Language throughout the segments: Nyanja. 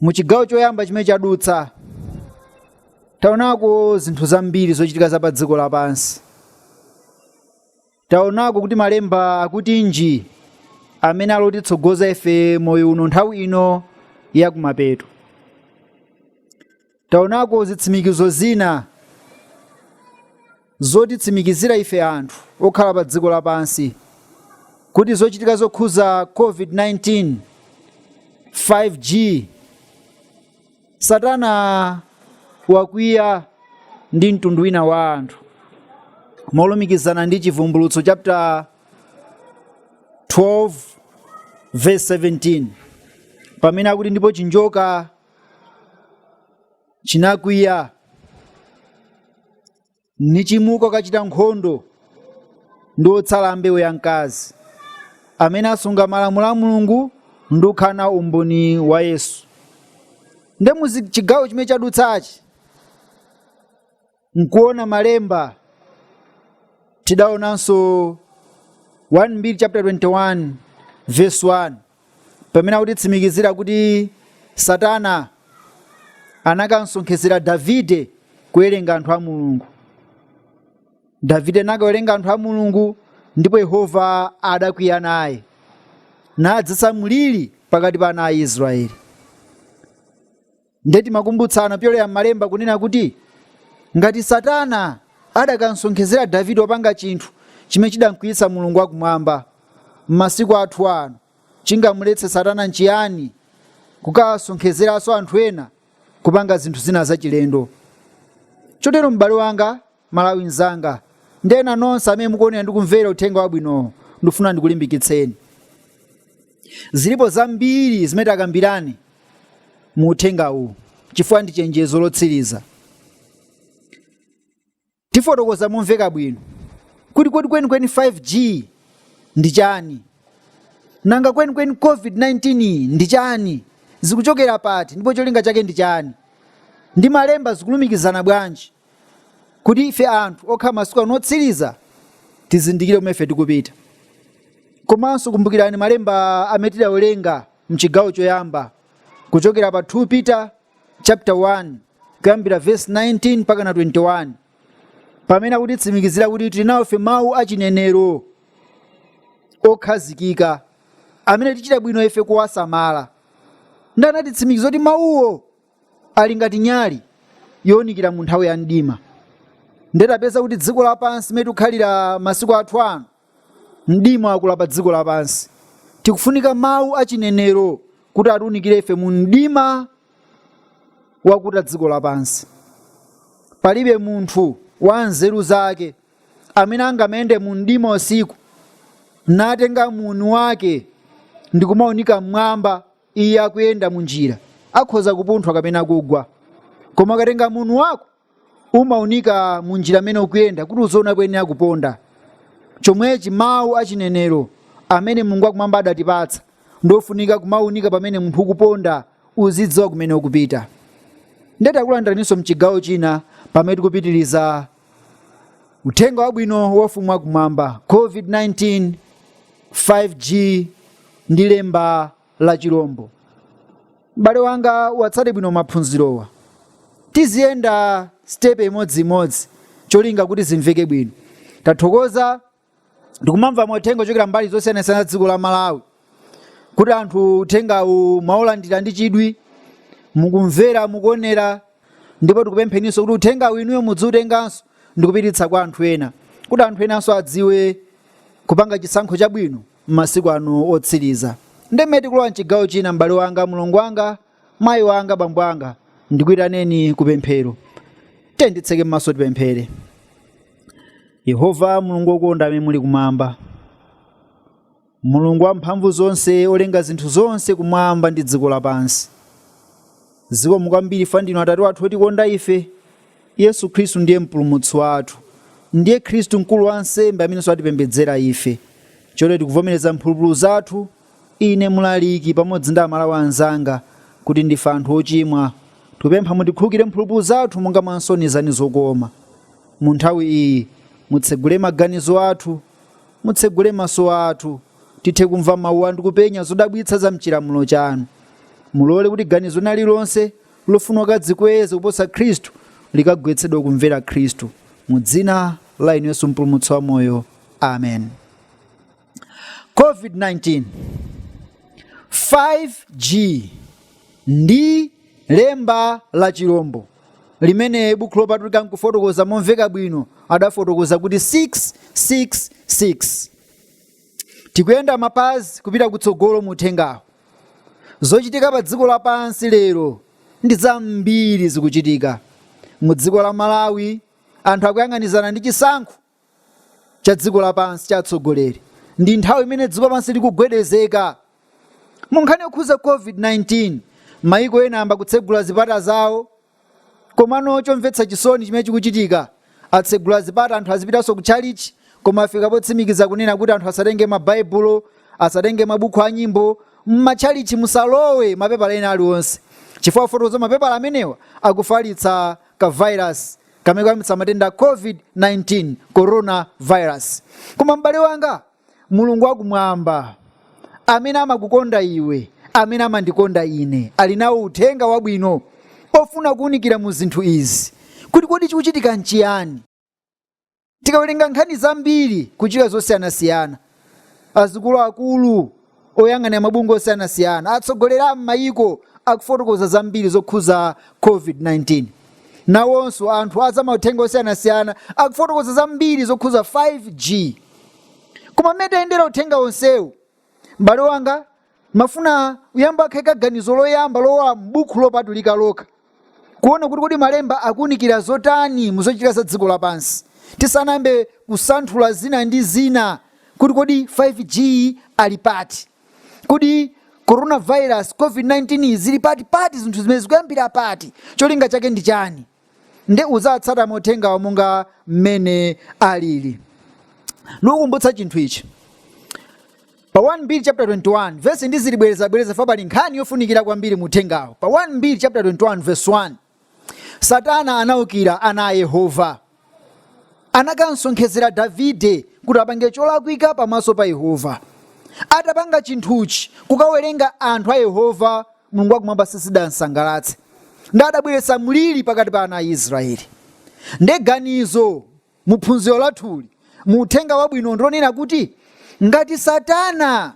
mu chigawo choyamba chimene chadutsa taonako zinthu zambiri zochitika za pa dziko lapansi taonako kuti malemba akutinji amene akutitsogoza ife moyo uno nthawi ino yakumapeto Taonako zitsimikizo zina zotitsimikizira ife anthu okhala pa dziko lapansi kuti zochitika zokhuza COVID-19, 5G, Satana wakwiya ndi mtundu wina wa anthu molumikizana ndi Chivumbulutso chapter 12 verse 17 pamene akuti ndipo chinjoka chinakwiya nichimuka kukachita nkhondo ndi otsala ambewu ya mkazi amene asunga malamulo a mulungu ndi kukhala na umboni wa yesu nde mu chigawo chimene chadutsachi nkuona malemba tidaonanso 1 mbiri chapter 21 verse 1 pamene akutitsimikizira kuti satana anakamsonkhezera davide kuwerenga anthu a mulungu davide anakawerenga anthu a mulungu ndipo yehova adakwiya naye nadzitsa mliri pakati pa ana a israeli nde timakumbutsana pyolera m'malemba kunena kuti ngati satana adakamsonkhezera davide kupanga chinthu chimene chidamkwiyitsa mulungu wakumwamba m'masiku athu ano chingamuletse satana nchiyani kukasonkhezeranso anthu ena kupanga zinthu zina zachilendo chotero m'bale wanga Mmalawi mnzanga, ndi ena nonse amene mukuonera ndi kumvera uthenga wabwinowu, ndifuna ndikulimbikitseni. Zilipo zambiri zimene tikambirane mu uthenga uwu chifukwa ndi chenjezo lotsiriza. Tifotokoza momveka bwino kuti kodi kwenikweni 5G ndi chani, nanga kwenikweni COVID-19 iyi ndi chani, zikuchokera pati ndipo cholinga chake ndi chani, ndi malemba zikulumikizana bwanji. kuti ife anthu okhala masiku ano otsiriza tizindikire kumene ife tikupita komanso kumbukirani malemba amene tidawerenga mchigawo choyamba kuchokera pa 2 peter chapter 1 kuyambira verse 19 mpaka na 21 pamene akutitsimikizira kuti tili nawo ife mawu achinenero okhazikika amene tichita bwino ife kuwasamala nde anatitsimikiza kuti mawuwo ali ngati nyali younikira mu nthawi ya mdima ndetapeza kuti dziko lapansi limene tikukhalira masiku athu ano mdima wakula pa dziko lapansi tikufunika mawu achinenero kuti atiunikire ife mu mdima wakuta dziko lapansi palibe munthu wa nzeru zake amene angamayende mu mdima usiku natenga muni wake ndikumaunika mmwamba Iye akuyenda mu njira, akhoza kupunthwa kapena kugwa. Koma ukatenga muni wako, umaunika mu njira amene ukuyenda kuti uziona koyenera kuponda. Chomwechi mawu a chinenero amene Mulungu wakumwamba adatipatsa ndi ofunika kumaunika pamene munthu ukuponda uzidziwa kumene ukupita. Ndiye takulandiraninso mchigawo china pamene tikupitiriza Uthenga wabwino wa ufumu wakumwamba, COVID-19, 5G ndi lemba la chilombo. M'bale wanga atsate bwino maphunzirowa. Tiziyenda sitepe imodzimodzi cholinga kuti zimveke bwino. Tathokoza ndikumamva mauthenga ochokera mbali zosiyanasiyana za dziko la malawi kuti anthu uthengawu mwaulandira ndi chidwi mukumvera mukuonera ndipo tikupempheninso kuti uthengawu inuyo mudziutenganso ndikupititsa kwa anthu ena kuti anthu enanso adziwe kupanga chisankho chabwino m'masiku ano otsiriza nde mene tikulowa mchigawo china m'bale wanga mulongo wanga mayi wanga bambo anga ndikuyitaneni ku pemphero tiyeni titseke m'maso tipemphere yehova mulungu wokonda amene muli kumwamba mulungu wamphamvu zonse olenga zinthu zonse kumwamba ndi dziko lapansi zikomo kwambiri fa ndinu atate wathu otikonda ife yesu khristu ndiye mpulumutsi wathu ndiye khristu mkulu wa nsembe amenenso atipembedzera ife choncho tikuvomereza mphulupulu zathu Ine mlaliki pamodzi ndi amalawi anzanga kuti ndife anthu ochimwa tikupempha mutikhululukire mphulupulu zathu monga mwa nsoni zanu zokoma. Mu nthawi iyi mutsegule maganizo athu, mutsegule maso athu tithe kumva mau anu ndi kupenya zodabwitsa za mchilamulo chanu. Mulole kuti ganizo lina lililonse lofuna kudzikweza kuposa Khristu likagwetsedwe kumvera Khristu. Mu dzina la inu Yesu mpulumutsi wamoyo. Amen. COVID-19 5G ndi lemba la chilombo limene buku lopatulika pofotokoza momveka bwino adafotokoza kuti 666 tikuyenda mapazi kupita kutsogolo mu uthengawo zochitika pa dziko lapansi lero ndi zambiri zikuchitika mu dziko la malawi anthu akuyang'anizana ndi chisankho cha dziko lapansi cha atsogoleri ndi nthawi imene dziko lapansi likugwedezeka mu nkhani yokhuza covid-19 mayiko ena ayamba kutsegula zipata zawo komano chomvetsa chisoni chimene chikuchitika atsegula zipata anthu azipitanso ku chalichi koma afika potsimikiza kunena kuti anthu asatenge mabaibulo asatenge mabuku a nyimbo m'machalichi musalowe mapepala ena aliwonse chifukwa afotokoza mapepala amenewa akufalitsa ka virus kamene kayambitsa matenda a covid-19 corona virus koma m'bale wanga mulungu wakumwamba amene amakukonda iwe amene amandikonda ine ali nawo uthenga wabwino ofuna kuwunikira mu zinthu izi kuti kodi chikuchitika nchiyani tikawerenga nkhani zambiri kuchita zosiyanasiyana azikuluakulu oyang'anira mabungwe osiyanasiyana atsogoleri a m'mayiko akufotokoza zambiri zokhuza covid-19 nawonso anthu a zamauthenga osiyanasiyana akufotokoza zambiri zokhuza 5g koma mmene tayendera uthenga wonsewu m'bale wanga timafuna tiyambe takhazika ganizo loyamba lolowa m'buku lopatulika lokha kuona kuti kodi malemba akuunikira zotani muzochitika za dziko lapansi tisanayambe kusanthula zina ndi zina kuti kodi 5g ali pati kodi coronavirus covid-19 zili pati pati zinthu zimene zikuyambira pati cholinga chake ndi chani nde udzatsata mauthengawo monga mmene alili ndikukumbutsa chinthu ichi pa 1 mbiri chapter 21 vesi ndizilibwerezabwereza chifukwa pali nkhani yofunikira kwambiri mu uthengawo pa 1 mbiri chapter 21 verse 1 satana anaukira ana a yehova anakamsonkhezera Davide kuti apange cholakwika pamaso pa Yehova. Atapanga chinthuchi, kukawerenga anthu a Yehova Mulungu wakumwamba sizidamsangalatse. Nde adabweretsa mliri pakati pa ana a Israeli. Nde ganizo mu phunziro lathuli mu uthenga wabwino ndilonena kuti ngati Satana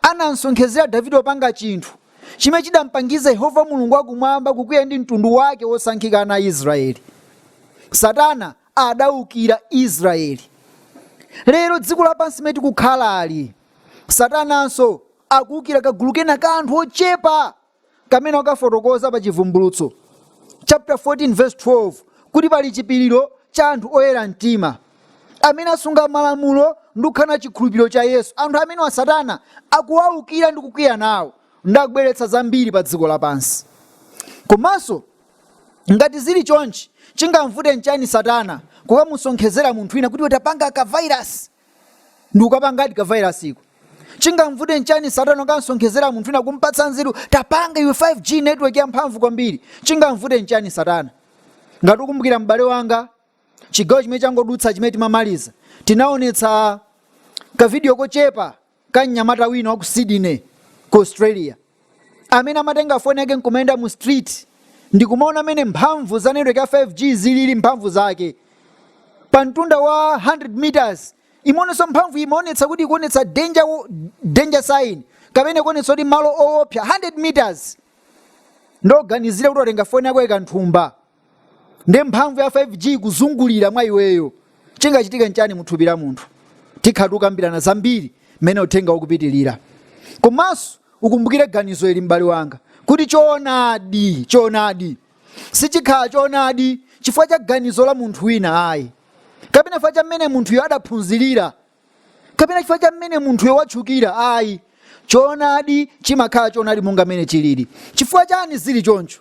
anamsonkhezera davide kupanga chinthu chimene chidampangiza yehova mulungu wakumwamba kukwiya ndi mtundu wake wosankhika ana a israeli satana adaukira israeli lero dziko lapansi limene tikukhalali satananso akuukira kagulu kena ka anthu ochepa kamene wakafotokoza pa Chivumbulutso chapter 14 verse 12 kuti pali chipiriro cha anthu oyera mtima amene asunga malamulo ndi kukhala na chikhulupiriro cha Yesu. Anthu amenewa Satana akuwaukira ndi kukwiya nawo ndi akubweretsa zambiri pa dziko lapansi. Komanso ngati zili chonchi chingamvute nchani Satana kukamusonkhezera munthu wina kuti iwe tapanga ka vairasi ndi kukapangadi ka virus ko chingamvute nchani satana kukamsonkhezera munthu wina kumpatsa nzeru tapanga iwe 5g network yamphamvu kwambiri chingamvute nchani satana ngati ukumbukira m'bale wanga chigawo chimene changodutsa chimene timamaliza tinaonetsa kavidiyo kochepa ka mnyamata wina wa ku Sydney ku Australia amene amatenga foni yake nkumayenda mu street ndikumaona mene mphamvu za network ya 5G zilili mphamvu zake pa mtunda wa 100 meters imaonekanso mphamvu imaonetsa kuti ikuonetsa danger sign kapena ikuonetsa kuti malo owopsa 100 meters nde uganizire kuti watenga foni yako waika mthumba nde mphamvu ya 5G ikuzungulira mwa iweyo, chingachitike nchani mu thupi la munthu? Tikhala tikukambirana zambiri mmene uthengawu ukupitilira. Komanso ukumbukire ganizo ili m'bale wanga kuti choonadi sichikhala choonadi chifukwa cha ganizo la munthu wina ayi, kapena chifukwa cha mmene munthuyo adaphunzilira, kapena chifukwa cha mmene munthuyo watchukira ayi. Choonadi chimakhala choonadi monga mmene chilili. Chifukwa chani zili choncho?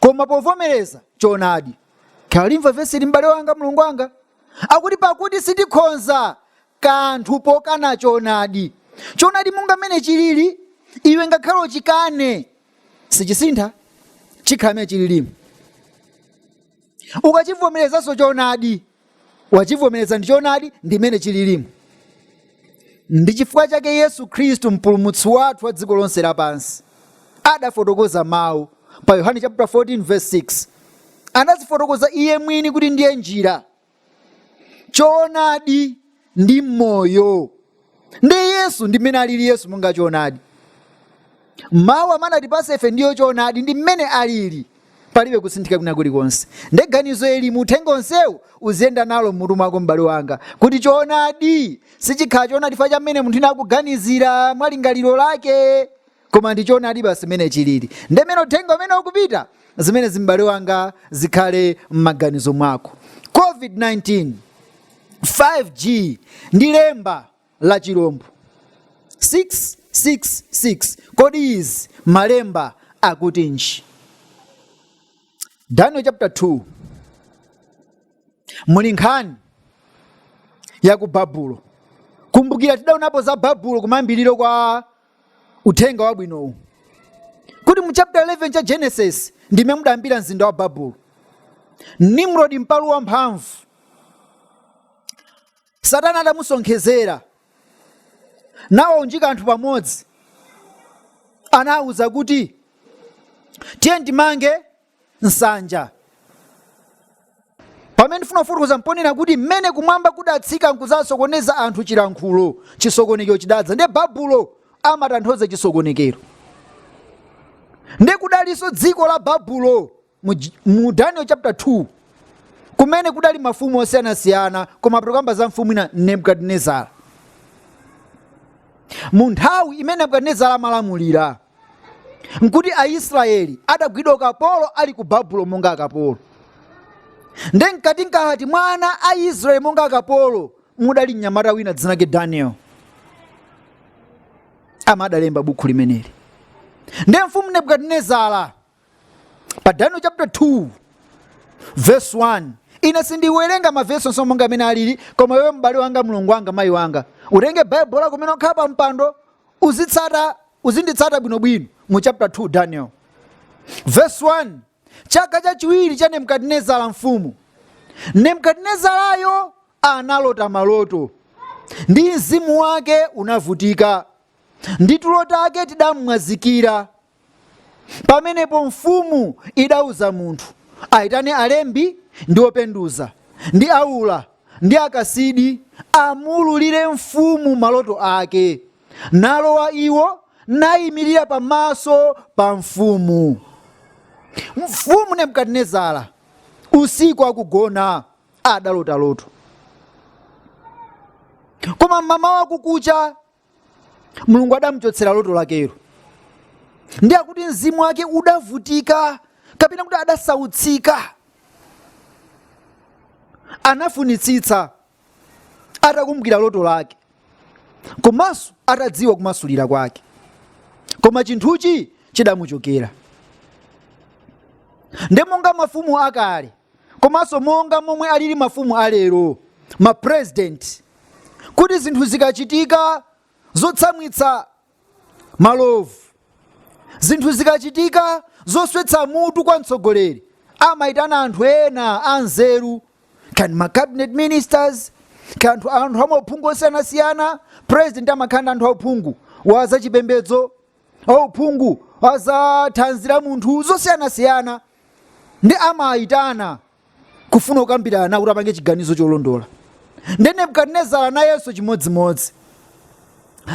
koma povomereza choonadi ukalimva vesili m'bale wanga mulungu wanga akuti pakuti sitikhonza kanthu pokana choonadi choonadi monga mmene chilili iwe ngakhale uchikane sichisintha chikhala mmene chililimo ukachivomerezanso choonadi wachivomereza ndi choonadi ndi mmene chililimo ndi chifukwa chake yesu khristu mpulumutsi wathu wa dziko lonse lapansi adafotokoza mawu pa yohane chapter 14 verse 6 anazifotokoza iye mwini kuti ndiye njira choonadi ndi moyo ndi yesu ndi mmene alili yesu monga choonadi mawu amene anatipasa ife ndiyo choonadi ndi mmene alili palibe kusinthika kwina kulikonse nde ganizo ili mu uthenga wonsewu uziyenda nalo mmutu mwako m'bale wanga kuti choonadi sichikhala choonadi chifukwa cha mmene munthu wina akuganizira mwa lingaliro lake koma ndi choonadi basi mmene chilili nde mmene uthenga umenewu ukupita zimenezi m'bale wanga zikhale m'maganizo mwako covid-19 5g ndi lemba la chilombo 666 kodi izi malemba akutinji daniel chapter 2 muli nkhani ya ku babulo kumbukira tidaonapo za babulo kumayambiriro kwa uthenga wabwinowu kuti mu chapter 11 cha genesis ndi mmene mudayambira mzinda wa babulo nimrodi mpalu wamphamvu satana adamusonkhezera nawaunjika anthu pamodzi nawauza kuti tiye timange nsanja pamene ndifuna kufotokoza mponena kuti mmene kumwamba kudatsika nkudzasokoneza anthu chilankhulo chisokonekero chidadza ndiye babulo amatanthauza chisokonekero ndiye kudalinso dziko la babulo mu, J- mu daniel chapter 2 kumene kudali mafumu osiyanasiyana koma tikukamba za mfumu ina nebukadinezara mu nthawi imene nebukadinezara amalamulira nkuti aisraeli adagwidwa ukapolo ali ku babulo monga akapolo nde mkati mkati mwa ana a israeli monga akapolo mudali mnyamata wina dzina lake daniel amene adalemba bukhu limeneli nde mfumu nebukadinezara pa daniel chapter 2 verse 1 ine sindiwerenga mavesi onse monga mmene alili koma iwe m'bale wanga mlongo wanga mayi wanga utenge baibulo lako kumene ukhala pa mpando uzitsata uzinditsata bwinobwino mu chapter 2 daniel verse 1 chaka chachiwiri cha nebukadinezara mfumu nebukadinezarayo analota maloto ndi mzimu wake unavutika ndi tulo take tidamwazikira Pamenepo mfumu idauza munthu aitane alembi ndi openduza, ndi aula, ndi Akasidi, amuululire mfumu maloto ake. Nalowa iwo, naimirira pamaso pa mfumu. Mfumu Nebukadinezara usiku akugona adalota loto. Koma m'mamawa kukucha mulungu adamuchotsera loto lakelo ndi akuti mzimu wake udavutika kapena kuti adasautsika anafunitsitsa atakumbukira loto lake komanso atadziwa kumasulira kwake koma chinthuchi chidamuchokera ndi monga mafumu akale komanso monga momwe alili mafumu alero ma president kuti zinthu zikachitika zotsamwitsa malovu zinthu zikachitika zoswetsa mutu kwa mtsogoleri amayitana anthu ena anzeru kaya ndi ma cabinet ministers kaya anthu anthu amauphungu osiyanasiyana president amakhala ndi anthu auphungu wa zachipembedzo auphungu wa za thanzi la munthu zosiyanasiyana ndi amayitana kufuna kukambirana nawo kuti apange chiganizo cholondola ndi nebukadinezara nayenso chimodzimodzi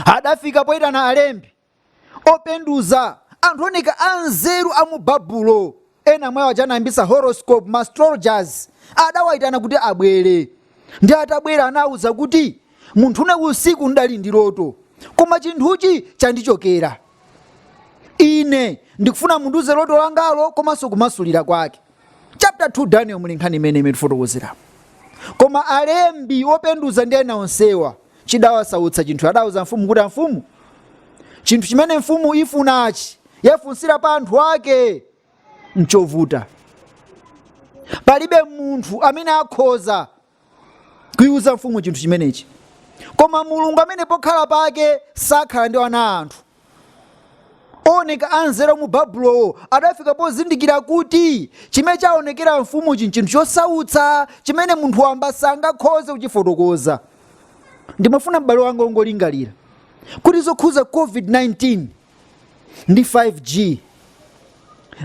adafika poyitana alembi openduza anthu oneka anzeru a mu babulo ena mwawo aja anayambisa horoscope ma astrologers adawayitana kuti abwere ndi atabwera anawuza kuti munthu ine usiku ndidali ndi loto koma chinthuchi chandichokera ine ndikufuna mundiuze loto langalo komanso kumasulira kwake chapter 2 daniel muli nkhani imene imene tifotokozera koma alembi openduza ndi ena onsewa chidawasautsa chinthu adauza mfumu kuti amfumu chinthu chimene mfumu ifunachi yafunsira pa anthu ake nchovuta palibe munthu amene akhoza kuiuza mfumu chinthu chimenechi koma mulungu amene pokhala pake sakhala ndi ana a anthu oneka anzeru mu babulowo adafika pozindikira kuti chimene chaonekera mfumuchi nchinthu chosautsa chimene munthu wamba sangakhoze kuchifotokoza ndimafuna m'bale wanga ungolingalira kuti zokhuza covid-19 ndi 5g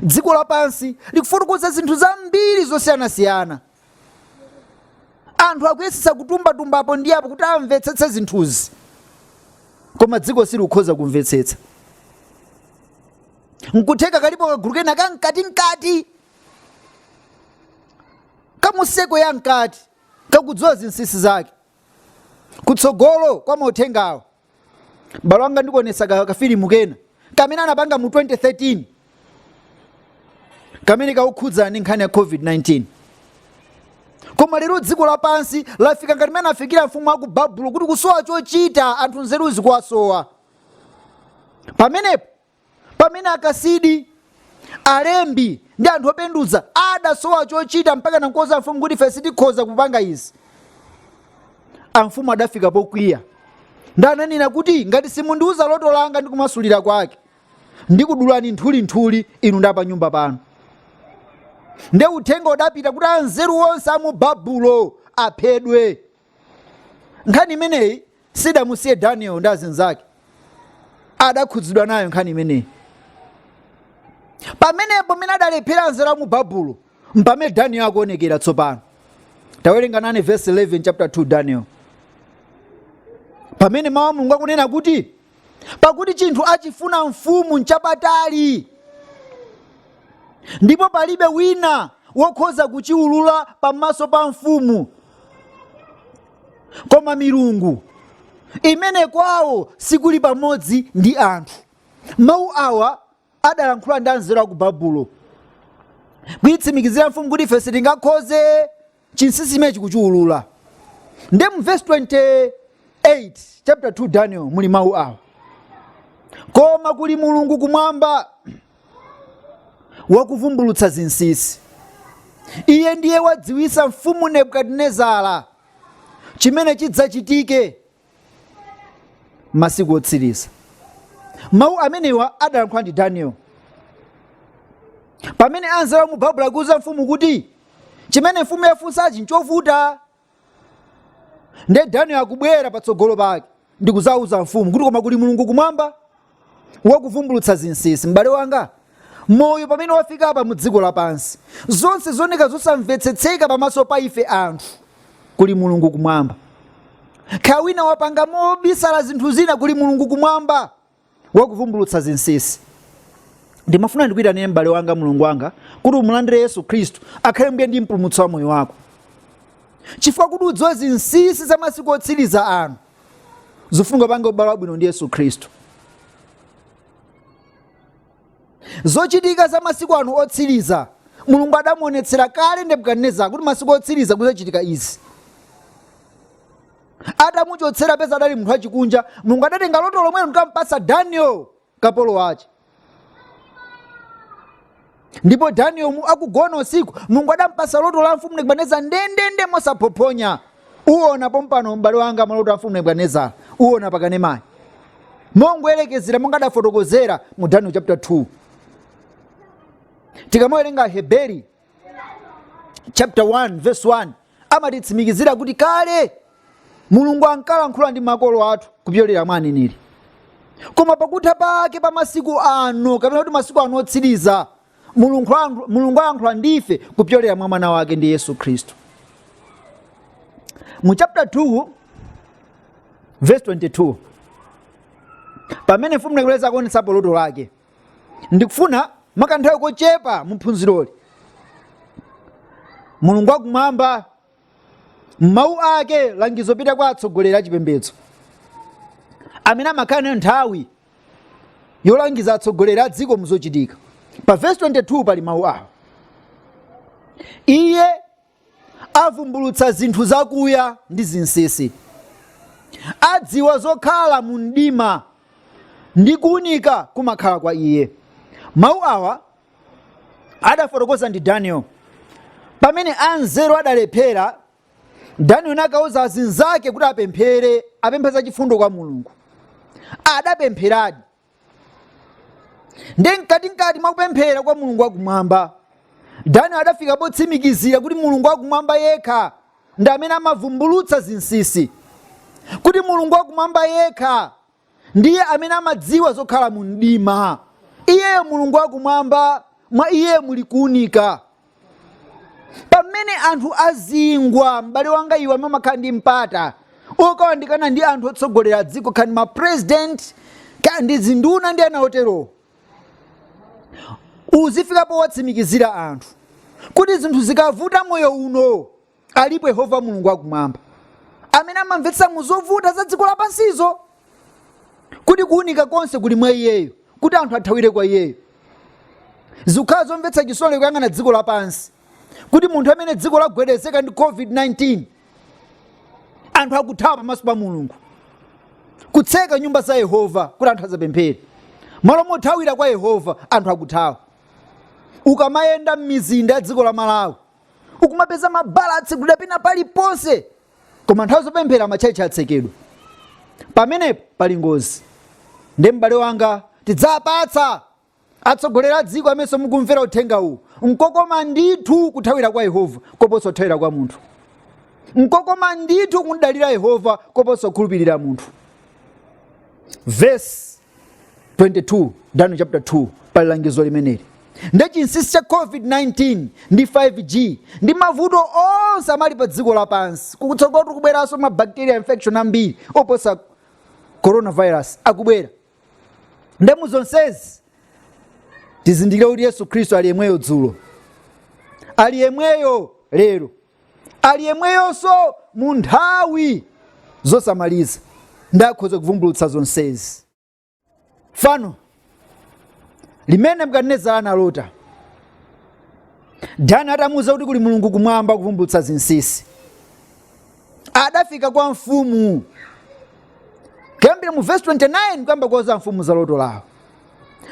dziko lapansi likufotokoza zinthu zambiri zosiyanasiyana anthu akuyesetsa kutumbatumba apo ndi apo kuti amvetsetse zinthuzi koma dziko silikukhoza kumvetsetsa nkutheka kalipo kagulu kena ka mkatimkati kamuseko ya mkati kakudziwa zinsinsi zake kutsogolo kwa mauthengawo m'bale wanga ndikuonesa ka- kafilimu kena kamene anapanga mu 2013 kamene kakukhudzana ndi nkhani ya covid-19 koma lero dziko lapansi lafika ngati mmene anafikira mfumu aku babulo kuti kusowa chochita anthu nzeru zikuwasowa pamenepo pamene akasidi alembi ndi anthu openduza adasowa chochita mpaka nankuuza mfumu kuti ife sitikhoza kupanga izi amfumu adafika pokwiya ndi ananena kuti ngati simundiuza loto langa ndi kumasulira kwake ndikudulani nthulinthuli inu ndi apa nyumba panu nde uthenga udapita kuti anzeru onse a mu babulo aphedwe nkhani imeneyi sidamusiye daniel ndi azinzake adakhudzidwa nayo nkhani imeneyi pamenepo mene adalephera anzeru a mu babulo mpamene daniel akuonekera tsopano tawerenga nane verse 11 chapter 2 daniel pamene mawu a mulungu akunena kuti pakuti chinthu achifuna mfumu nchapatali ndipo palibe wina wokhoza kuchiwulula pamaso pa mfumu koma milungu imene kwawo sikuli pamodzi ndi anthu mawu awa adalankhula ndi anzeru a ku babulo kuitsimikizira mfumu kuti ife sitingakhoze chinsinsi chimenechi kuchiwulula nde mu vesi 28 chapter 2 daniel muli mawu awa koma kuli mulungu kumwamba wakuvumbulutsa zinsinsi iye ndiye wadziwisa mfumu nebukadinezara chimene chidzachitike masiku otsiriza mawu amenewa adalankhula ndi daniel pamene anzeru mu babulo akuuza mfumu kuti chimene mfumu yafunsachi nchovuta nde daniel akubwera patsogolo pake ndikuzauza mfumu kuti koma kuli mulungu kumwamba wakuvumbulutsa zinsinsi m'bale wanga moyo pamene wafika apa mu dziko lapansi zonse zoneka zosamvetsetseka pamaso pa ife anthu kuli mulungu kumwamba kaya wina wapanga mobisala zinthu zina kuli mulungu kumwamba wakuvumbulutsa zinsinsi ndimafuna ndikuyitanire m'bale wanga mulungu wanga kuti umulandire yesu khristu akhale mbuye ndi mpulumutsi wa moyo wako chifukwa kuti udziwe zinsinsi za masiku otsiriza ano zofunika upange ubale wabwino ndi yesu khristu zochitika za masiku ano otsiriza mulungu adamuonetsera kale nebukadinezara kuti masiku otsiriza kuzachitika izi adamuchotsera peza adali munthu wachikunja mulungu adatenga loto lomwelo nkampasa daniel kapolo wache ndipo daniel akugona usiku mulungu adampasa loto la mfumu nebukadinezara ndendende mosaphophonya uwona pompano m'bale wanga maloto a mfumu nebukadinezara uwona pakanemayi mongoyerekezera monga adafotokozera mu daniel chapter 2 tikamawerenga heberi chapter 1 verse 1 amatitsimikizira kuti kale mulungu ankalankhula ndi makolo athu kupyolera mwa aneneri koma pakutha pake pa masiku ano kapena kuti masiku ano otsiriza mulungu alankhula ndife kupyolera mwa mwana wake ndi yesu khristu mu chapter 2 verse 22 pamene mfumu nebukadinezara akuonetsapo loto lake ndikufuna mwakanthawi kochepa mu phunziroli mulungu wakumwamba mawu ake alangizo apita kwa atsogoleri a chipembedzo amene amakhala nayo nthawi yolangiza atsogoleri a dziko muzochitika pa vesi 22 pali mawu awa iye avumbulutsa zinthu zakuya ndi zinsinsi adziwa zokhala mu mdima ndi kuunika kumakhala kwa iye mawu awa adafotokoza ndi daniel pamene anzeru adalephera daniel nakauza azinzake kuti apemphere apemphe zachifundo kwa mulungu adapempheradi ndi mkatimkati mwakupemphera kwa mulungu wakumwamba daniel adafika potsimikizira kuti mulungu wakumwamba yekha ndi amene amavumbulutsa zinsinsi kuti mulungu wakumwamba yekha ndiye amene amadziwa zokhala mu mdima iyeyo mulungu wakumwamba mwa iye muli kuunika pamene anthu azingwa m'bale wanga iwe amene umakhala ndi mpata wokawandikana ndi anthu otsogolera dziko kaya ndi ma president kaya ndi zinduna ndi ena oterowo uzifika powatsimikizira anthu kuti zinthu zikavuta moyo uno alipo yehova mulungu wakumwamba amene amamvetsa mu zovuta za dziko lapansizi kuti kuunika konse kuli mwa iyeyo kuti anthu athawire kwa iyeyo zikhala zomvetsa chisoni kuyang'ana dziko lapansi kuti mu nthawi imene dziko lagwedezeka ndi covid-19 anthu akuthawa pamaso pa mulungu kutseka nyumba za yehova kuti anthu asapemphere malo mothawira kwa yehova anthu akuthawa ukamayenda m'mizinda ya dziko la malawi ukumapeza mabala atsegulidwa pena paliponse koma nthawi yopemphera matchalitchi atsekedwa pamenepo pali ngozi nde m'bale wanga tidzapatsa atsogoleri a dziko amenenso mukumvera uthenga uwu nkokoma ndithu kuthawira kwa yehova koposa kuthawira kwa munthu nkokoma ndithu kumdalira yehova koposa kukhulupirira munthu vesi 22 daniel chapter 2 pali langizo limeneli ndi chinsinsi cha covid-19 ndi 5g ndi mavuto onse amene ali pa dziko lapansi kutsogoloku kubweranso ma bacteria infection ambiri oposa coronavirus akubwera nde mu zonsezi tizindikire kuti yesu khristu ali yemweyo dzulo ali yemweyo lero ali yemweyonso mu nthawi zosamaliza ndi akhoza kuvumbulutsa zonsezi fano limene nebukadinezara analota daniel atamuwuza kuti kuli mulungu kumwamba wakuvumbulutsa zinsinsi adafika kwa mfumu kuyambira mu vesi 29 kuyamba kuwauza mfumu za loto lawo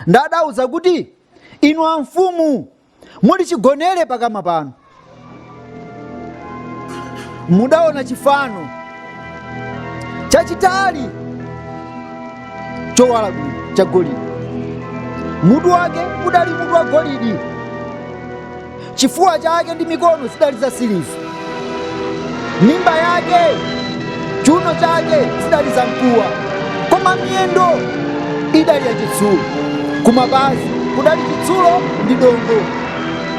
nde adawauza kuti inu amfumu muli chigonere pakama panu mudaona chifano chachitali chowala bwino cha golidi mutu wake udali mutu wa golidi chifuwa chake ndi mikono zidali za siliva mimba yake chiuno chake zidali zamkuwa koma miyendo idali yachitsulo kumapazi kudali chitsulo ndi dongo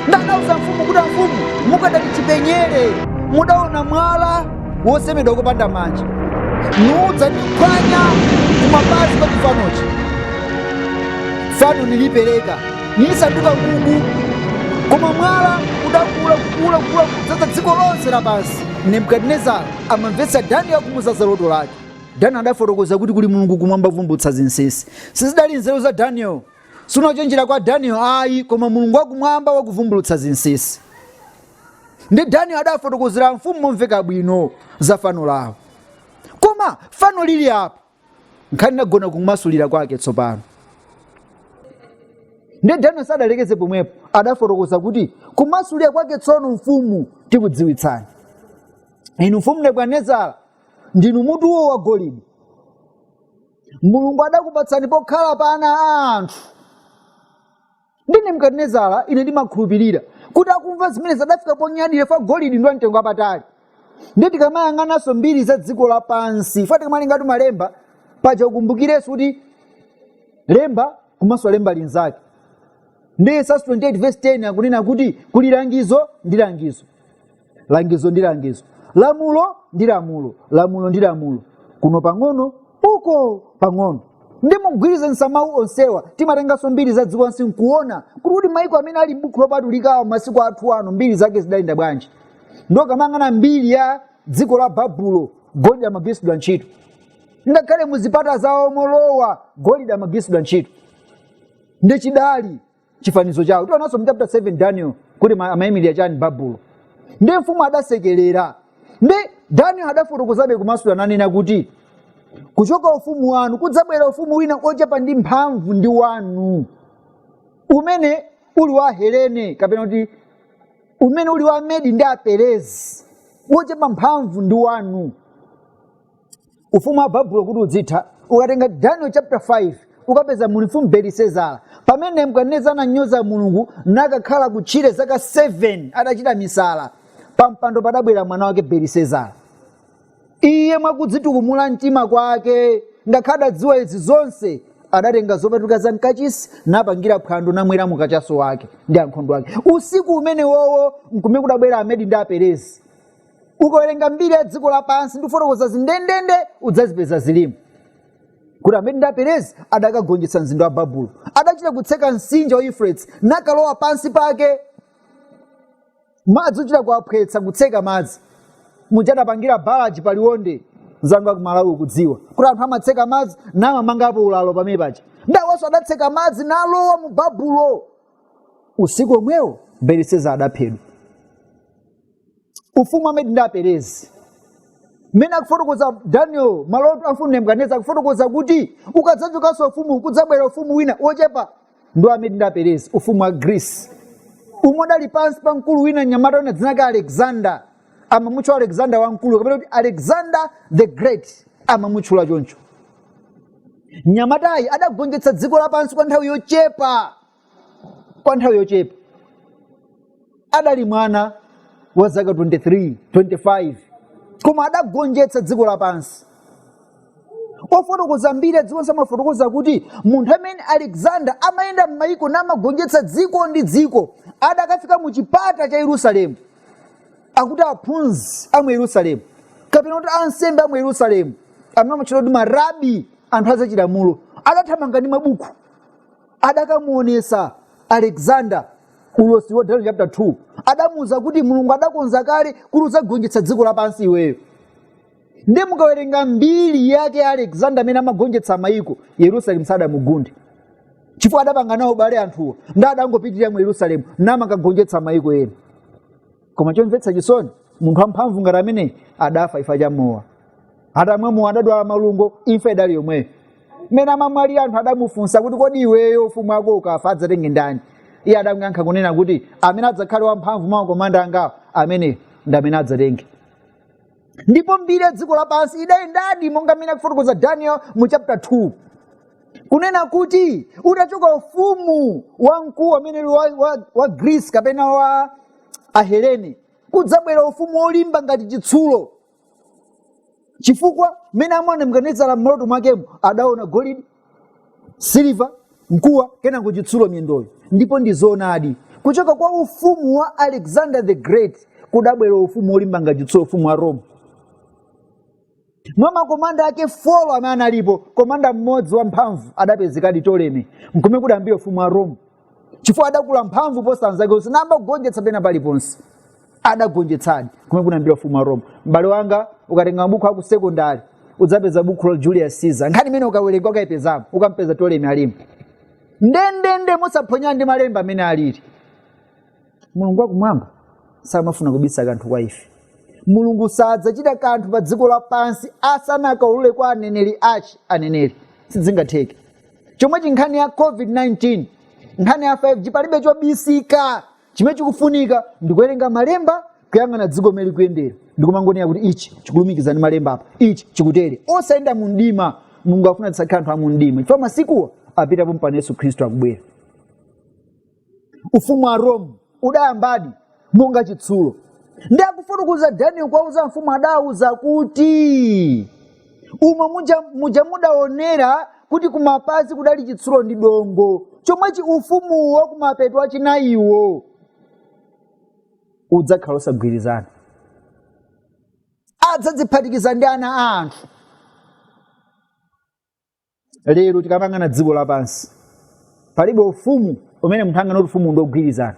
nde adauza mfumu kuti amfumu mukadali chipenyere mudaona mwala wosemedwa kopanda manja nuudza ndiphwanya kumapazi kwa chifanochi fano nilipereka nisanduka mungu. Koma mwala udakula, kukula, kukula, kudzaza dziko lonse lapansi. Nebukadinezara amamvetsa Danieli akumuuza za loto lake. Danieli adafotokoza kuti kuli Mulungu kumwamba ovumbulutsa zinsinsi. Sizidali nzeru za Danieli, sikuchenjera kwa Danieli ayi, koma Mulungu wakumwamba wakuvumbulutsa zinsinsi. Ndi Danieli adafotokozera mfumu momveka bwino za fano lawo. Koma fano lili apa, nkhani inagona kumasulira kwake tsopano ndiye daniel sadalekeze pomwepo adafotokoza kuti kumasulira kwake tsono mfumu tikudziwitsani inu mfumu nebukadinezara ndinu mutuwo wa golide mulungu adakupatsani pokhala pa ana a anthu ndi nebukadinezara ine ndimakhulupirira kuti akumva zimenezi adafika ponyadira fukwa golidi ndi wamtengo wapatali ndiye tikamayang'ananso mbiri za dziko lapansi fukwa tikamalingatu malemba paja ukumbukirenso kuti lemba kumasula lemba linzake ndi yesaya 28 verse 10 akunena kuti kuli langizo ndi langizo langizo ndi langizo lamulo ndi lamulo lamulo ndi lamulo kuno pang'ono uko pang'ono ndi mugwirizanitsa mawu onsewa timatenganso mbiri za dziko lapansi nkuona kuti kuti maiko amene ali m'buku lopatulikawa masiku athu ano mbiri zake zidayenda bwanji ndiye ukamayang'ana mbiri ya dziko la babulo golide amagwiritsidwa ntchito ngakhale muzipata zawo molowa golide amagwiritsidwa ntchito ndi chidali chifanizo chawo tionanso mu chapter 7 daniel kuti amayimirira chani babulo ndi mfumu adasekerera nde daniel adafotokozabe kumasula nanena kuti kuchoka ufumu wanu kudzabwera ufumu wina ochepa ndi mphamvu ndi wanu umene uli wa helene kapena kuti umene uli wa medi ndi aperezi wochepa mphamvu ndi wanu ufumu wa babulo kuti udzitha ukatenga daniel chapter 5 ukapeza muli mfumu belisezara pamene nebukadinezara ananyoza mulungu nakakhala kutchire zaka 7 adachita misala pampando padabwera mwana wake belisezara iye mwakudzitukumula mtima kwake ngakhale adadziwa izi zonse adatenga zopatulika za mkachisi napangira phwando namweramo kachaso wake ndi ankhondo ake usiku umenewowo nkumene kudabwera amedi ndi aperezi ukawerenga mbiri ya dziko lapansi ndi kufotokoza zindendende udzazipeza zilimo kuti amedi ndi aperezi adakagonjetsa mzinda wa babulo adachita kutseka mtsinje wa euphrates nakalowa pansi pake madzi ochita kuwaphwetsa kutseka madzi muja adapangira balaji paliwonde anzanga akumalawi mukudziwa kuti anthu amatseka madzi namamangapo ulalo pamene paja ndawaso adatseka madzi nalowa mu babulo usiku omwewo belisazara adaphedwa ufumu wa amedi ndi aperezi mmene akufotokoza daniel maloto a mfumu nebukadineza akufotokoza kuti ukadzachokanso ufumu kudzabwera ufumu wina wochepa ndi amedi ndi aperezi ufumu wa greece umene udali pansi pa mkulu wina mnyamata wina dzina lake alexander amamutchula alexander wamkulu kapena kuti alexander the great amamutchula choncho mnyamatayi adagonjetsa dziko lapansi kwa nthawi yochepa kwa nthawi yochepa adali mwana wa zaka 23 25 koma adagonjetsa dziko lapansi ofotokoza mbiri ya dzikonso amafotokoza kuti munthu amene alexander amayenda m'mayiko namagonjetsa dziko ndi dziko adakafika mu chipata cha yerusalemu akuti aphunzi a mu yerusalemu kapena kuti ansembe a mu yerusalemu amene amatchedwa kuti marabi anthu azachilamulo adathamanga ndi mabuku adakamuonesa alexander ulosi wa daniel chapter 2 adamuuza kuti mulungu adakonza kale kuti udzagonjetsa dziko lapansi iweyo ndiye mukawerenga mbiri yake ya alexander amene amagonjetsa mayiko yerusalemu sadamugunde chifukwa adapanga nawo ubale anthuwo nde adangopitirira mu yerusalemu namakagonjetsa mayiko ena koma chomvetsa chisoni munthu wamphamvu ngati ameneyi adafa chifukwa cha mowa atamwa mowa adadwala malungo imfa idali yomweyo mmene amamwalira anthu adamufunsa kuti kodi iweyo ufumu wako ukafa adzatenge ndani iye adamyankha kunena kuti amene adzakhale wamphamvu mwa makomanda angawo amene ndi amene adzatenge ndipo mbiri ya dziko lapansi idayendadi monga mmene akufotokoza daniel mu chapter 2 kunena kuti utachoka ufumu wamkulu amene uli wa, wa, wa greece kapena wa ahelene kudzabwera ufumu wolimba ngati chitsulo chifukwa mmene amaona nebukadineza m'maloto mwakemo adaona golide siliva mkuwa kenako chitsulo miyendoyo ndipo ndi zoonadi kuchoka kwa ufumu wa alexander the great kudabwera ufumu wolimba ngati chitsulo ufumu wa rome mwa makomanda ake folo amene analipo komanda mmodzi wamphamvu adapezekadi toleme nkumene kudayambira ufumu wa rome chifukwa adakula mphamvu kuposa anzake onse namagonjetsa pena paliponse adagonjetsadi kumene kunayambira ufumu wa roma m'bale wanga ukatenga mabuku aku sekondari udzapeza buku la julius caesar nkhani imene ukawerenga ukaipezamo ukampeza tolemi alimo ndendende mosaphonyana ndi malemba mmene alili mulungu wakumwamba samafuna kubisa kanthu kwa ife mulungu sadzachita kanthu pa dziko lapansi asanakaulule kwa aneneri ake aneneri sizingatheke chomwechi nkhani ya covid-19 nkhani ya 5g palibe chobisika chimene chikufunika ndikuwerenga malemba kuyang'ana dziko mmene likuyendera ndikumangonera kuti ichi chikulumikizana ndi malemba apa ichi chikutere osayenda mu mdima mulungu afuna tisakhale anthu a mu mdima chifukwa masikuwa apitapo mpano yesu khristu akubwera ufumu wa rome udayambadi monga chitsulo ndi akufotokoza daniel kuwauza mfumu adauza kuti umo muja mudaonera kuti kumapazi kudali chitsulo ndi dongo chomwechi ufumuwo kumapeto achinayiwo udzakhala osagwirizana adzadziphatikiza ndi ana a anthu lero tikamayang'ana dziko lapansi palibe ufumu umene munthu anganene kuti ufumu ndiwogwirizana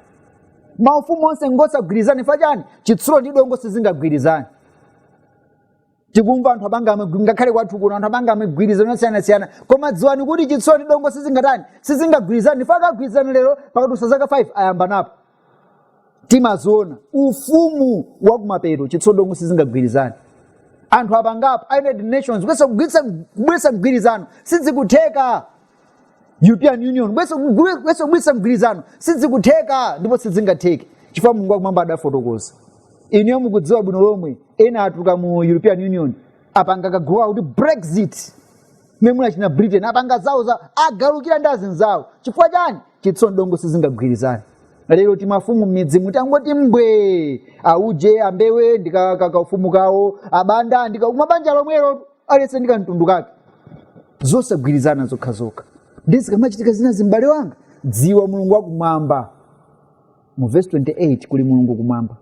maufumu onse ngosagwirizana chifukwa chani chitsulo ndi dongo sizingagwirizane tikumva anthu apanga amagwi- ngakhale kwathu kuno anthu apanga migwirizano yosiyanasiyana koma dziwani kuti chitsulo ndi dongo sizingatani sizingagwirizane chifukwa akagwirizana lero pakadutsa zaka 5 ayambanapo timaziona ufumu wa kumapeto chitsulo ndi dongo sizingagwirizane anthu apangapo united nations kuyesa kugwiritsa- kubweretsa mgwirizano sizikutheka european union kuyesa kugwe- kuyesa kubweretsa mgwirizano sizikutheka ndipo sizingatheke chifukwa mulungu wakumwamba adafotokoza inuyo mukudziwa bwino lomwe ena atuluka mu european union apanga kagulu kakuti brexit mmene muja achina britain apanga zawo za agalukira ndi anzawo chifukwa chani chitsulo ndi dongo sizingagwirizane lero timafumu m'midzi muti tangoti mbwe auje ambewe ndi kaufumu kawo abanda ndika kumabanja lomwelo aliyense ndi kamtundu kake zosagwirizana zokha zokha ndizikamachitika zinazi m'bale wanga dziwa mulungu wakumwamba mu vesi 28 kuli mulungu kumwamba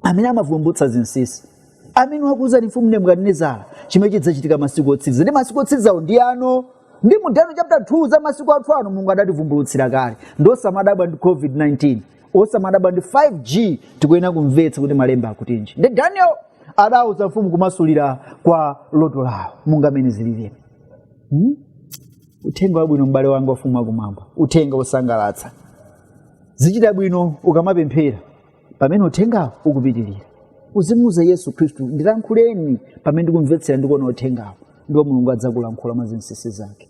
amene amavumbutsa zinsinsi amene wakuuzani mfumu nebukadinezara chimene chidzachitika masiku otsiriza ndi masiku otsirizawo ndi ano ndi mu daniel chapter 2 za masiku athu ano mulungu adativumbulutsira kale ndi osamadabwa ndi covid-19 osamadabwa ndi 5g tikuyenera kumvetsa kuti malemba akutinji ndi daniel adauza mfumu kumasulira kwa loto lawo monga amene zilili uthenga wabwino m'bale wanga wa ufumu wakumwamba uthenga wosangalatsa zichita bwino ukamapemphera pamene uthengawo ukupitirira uzimuwuza yesu khristu ndilankhuleni pamene ndikumvetsera ndikuona uthengawo ndipo mulungu adzakulankhula mwa zinsinsi zake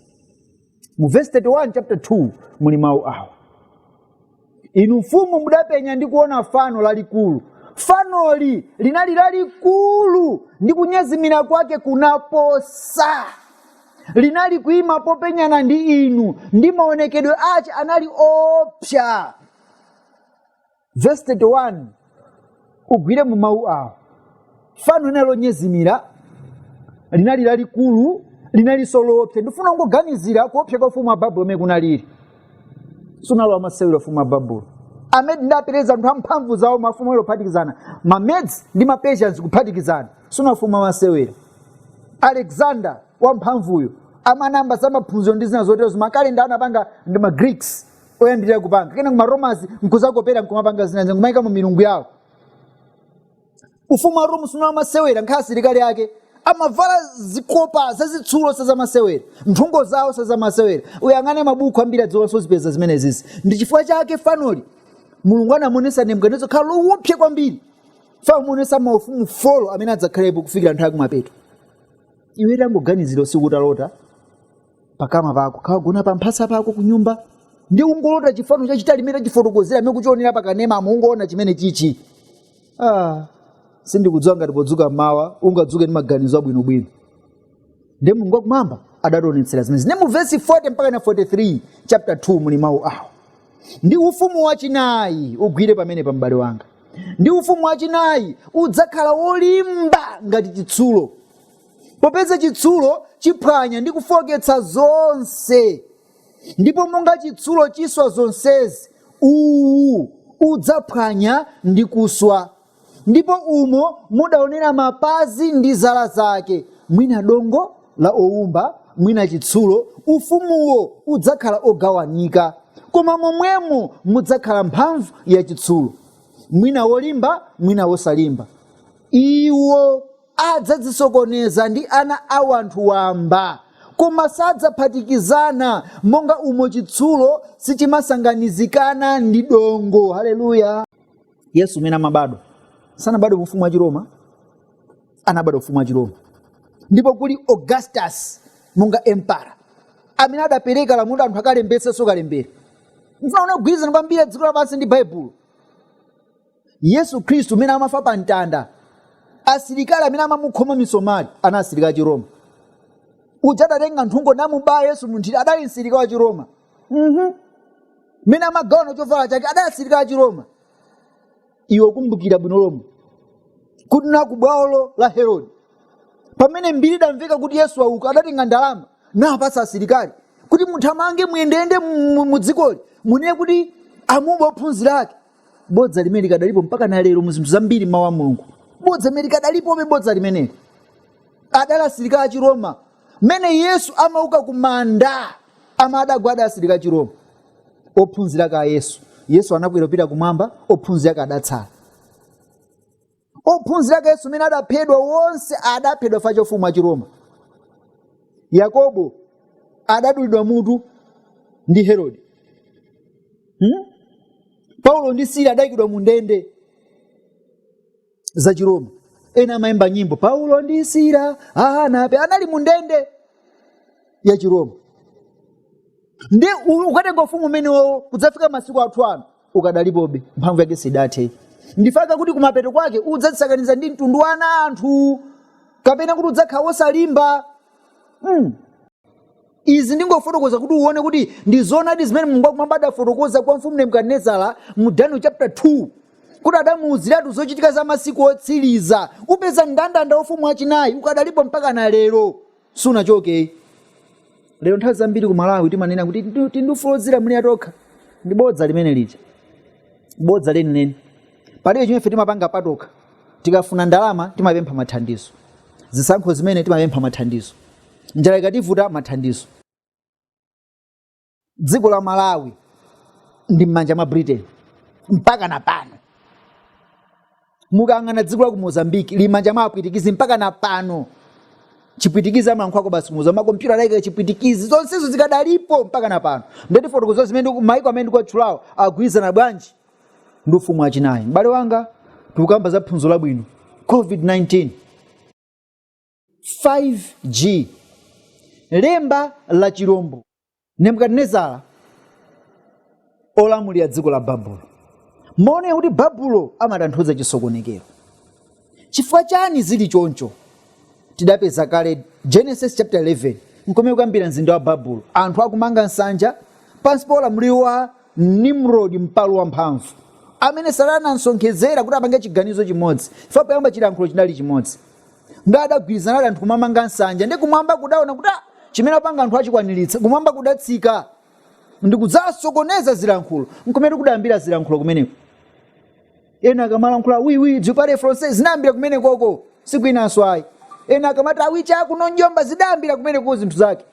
mu vesi 31 chapter 2 muli mawu awa inu mfumu mudapenya ndi kuona fano lalikulu fanoli linali lalikulu ndi kunyezimira kwake kunaposa linali kuima popenyana ndi inu ndi maonekedwe ace anali oopsa vesi 31 ugwire mu mawu awo fano linali lonyezimira linali lalikulu linalinso loopsa ndifuna ungoganizira kuopsa kwa ufumu wa babulo umene kunalili sunali wamasewera ufumu wa babulo amedi ndi aperezi anthu amphamvu zawo mafumu ali ophatikizana ma Medes ndi mapersians kuphatikizana Sunali ufumu wamasewera. Alexander wamphamvuyo amayamba za maphunziro ndi zina zotero zima calendar anapanga ndi ma Greeks oyambirira kupanga kenako ma Romans nkuzakopera nkumapanga zina zina nkumaikamo milungu yawo. Ufumu wa Rome sunali wamasewera nkhani asilikali ake amavala zikopa zazitsulo sazamasewera, nthungo zawo sazamasewera. Uyang'ane mabuku a mbiri ya dziko lonse uzipeza zimenezizi. Ndi chifukwa chake fanoli Mulungu anamuonetsa Nebukadinezara kukhala lowopsa kwambiri. pomuonesa maufumu folo amene adzakhalepo kufikira nthawi yakumapeto iwe tangoganizira usiku utalota pakama pako kaya wagona pa mphasa pako kunyumba ndiye ungolota chifano chachitali chimene tachifotokozera imene kuchionera pakanema umangoona chimene chichi ah, sindikudziwa ngati podzuka mawa ungadzuke ndi maganizo abwinobwino ndi mulungu wakumwamba adationetsera zimenezi. Ndi mu vesi 40 mpaka na 43 chapter 2 muli mawu awo Ndi ufumu wachinayi, ugwire pamenepa, m'bale wanga. Ndi ufumu wachinayi, udzakhala wolimba ngati chitsulo, popeza chitsulo chiphwanya ndi kufooketsa zonse, ndipo monga chitsulo chiswa zonsezi, uwu udzaphwanya ndi kuswa ndipo umo mudaonera mapazi ndi zala zake, mwina dongo la oumba, mwina chitsulo, ufumuwo udzakhala ogawanika, koma momwemo mudzakhala mphamvu ya chitsulo, mwina wolimba, mwina wosalimba. Iwo adzadzisokoneza ndi ana a wanthu wamba, koma sadzaphatikizana, monga umo chitsulo sichimasanganizikana ndi dongo. Haleluya! yesu mmene amabadwa sanabadwe mu ufumu wa chiroma anabadwa ufumu wa chiroma ndipo kuli augustus monga empara amene adapereka lamulo anthu akalembetsenso kalembera mfuna uone kugwirizana kwambiri dziko lapansi ndi baibulo yesu khristu mmene amafa pa mtanda asilikali amene amamukhoma misomali anali asilikali achiroma uja adatenga nthungo namubaya yesu munthiti adali msilikali wa chiroma Mhm. mmene amagawana chovala chake adali asilikali achiroma iwe kumbukira bwino lomwe kuti na ku bwalo la herode pamene mbiri idamveka kuti yesu wauka adatenga ndalama nawapatsa asilikali kuti muthamange muyendeyende mu- mu- mu dzikoli munene kuti amuba ophunzira ake bodza limene likadalipo mpaka na lero mu zinthu zambiri mawu a mulungu bodza limene likadalipobe bodza limeneli adali asilikali achiroma mmene yesu amauka ku manda amene adagwa adali asilikali achiroma ophunzira ake a yesu yesu atakwera kupita kumwamba ophunzira ake adatsala ophunzira ake yesu mmene adaphedwa onse adaphedwa chifukwa cha ufumu wachiroma yakobo adadulidwa mutu ndi herode hmm? paulo ndi sila adayikidwa mu ndende za chiroma ena amayimba nyimbo paulo ndi sila anape anali mu ndende ya chiroma ndi u- ukatenga ufumu umenewo kudzafika masiku athu ano ukadalipobe mphamvu yake sidathe ndi chifukwa chake akuti kumapeto kwake udzadzisakaniza ndi mtundu wa ana anthu kapena kuti udzakhala wosalimba mm. Izi ndingofotokoza kuti uwone kuti ndi zoonadi zimene Mulungu wakumwamba adafotokoza kwa Mfumu Nebukadinezara mu Daniel chapter 2 kuti adamuuziratu zochitika za masiku otsiriza. Upeza mndandanda wa ufumu wachinayi ukadalipo mpakana lero, sunachoke. Lero nthawi zambiri ku Malawi timanena kuti tili ndi ufulu wodzilamulira tokha. Ndi bodza limenelija, bodza lenileni. Palibe chimene ife timapanga patokha. Tikafuna ndalama timapempha mathandizo, zisankho zimene timapempha mathandizo. njala ikativuta mathandizo dziko la malawi lili m'manja mwa britain mpaka na pano mukayang'ana dziko la ku mozambique lili m'manja mwa apwitikizi mpaka na pano chipwitikizi amayankhula basi mupeza makompyuta anaika chipwitikizi zonsezo zikadalipo mpaka na pano ndeti fotokoza zimene ku- maiko amene ndikuwatchulawo agwirizana bwanji ndi ufumu wachinayi m'bale wanga tikukamba za phunziro labwino covid-19 5G, Lemba la chirombo, Nebukadinezara olamulira dziko la Babulo. Muona kuti Babulo amatanthauza chisokonekero. Chifukwa chani zili choncho? Tidapeza kale Genesis chapter 11 nkomwe kudayambira mzinda wa Babulo. Anthu akumanga nsanja pansi pa ulamuliro wa Nimrod mpalu wamphamvu amene Satana anamsonkhezera kuti apange chiganizo chimodzi chifukwa poyamba chilankhulo chinali chimodzi. ndi adagwirizanadi anthu kumamanga nsanja ndi kumwamba kudaona kuti "Ah, chimene apanga anthu achikwaniritsa kumwamba kudatsika ndi kudzasokoneza zilankhulo nkumene kudayambira zilankhulo kumeneko ena akamalankhula wiwi je parle français zinayambira kumeneko sikwinanso ayi ena akamati ayiche akuno njomba zidayambira kumeneko zinthu zake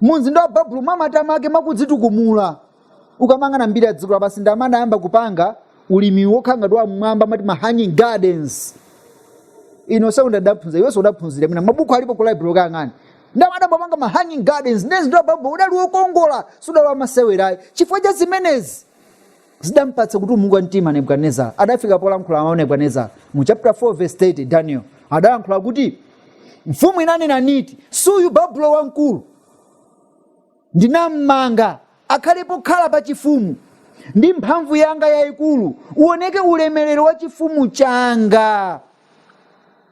mu mzinda wa babulo mwa matama ake mwakudzitukumula ukamang'ana mbiri ya dziko lapansi ndi amene adayamba kupanga ulimi wokhala ngati wa m'mwamba amati ma hanging gardens ine kusekondale ndidaphunzira iwenso udaphunzira mwina mabuku alipo ku library kayang'ani ndi amene adayamba kupanga ma hanging gardens ndi mzinda wa babulo udali wokongola sudali wamasewera ayi chifukwa cha zimenezi zidampatsa kutumuka mtima nebukadinezara adafika polankhula mawu nebukadinezara mu chapter 4 verse 30 daniel adalankhula kuti mfumu inanena niti suyu babulo wamkulu ndinammanga akhale pokhala pa chifumu ndi mphamvu yanga yayikulu uoneke ulemerero wa chifumu changa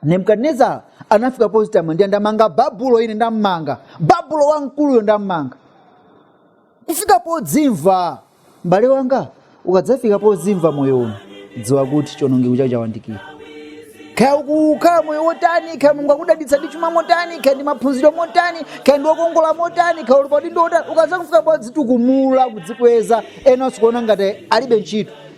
nebukadinezara anafika podzitamandira ndamanga babulo ine ndamanga babulo wamkuluyo ndammanga kufika podzimva m'bale wanga ukadzafika podzimva moyo uno dziwa kuti chionongeko chako chawandikira kaya ukukhala moyo wotani kaya mulungu wakudalitsa ndi chuma motani kaya ndi maphunziro motani kaya ndiwe wokongola motani kaya uli pa udindo wotani ukadzafika podzitukumula kudzikweza ena n'kuona ngati alibe ntchito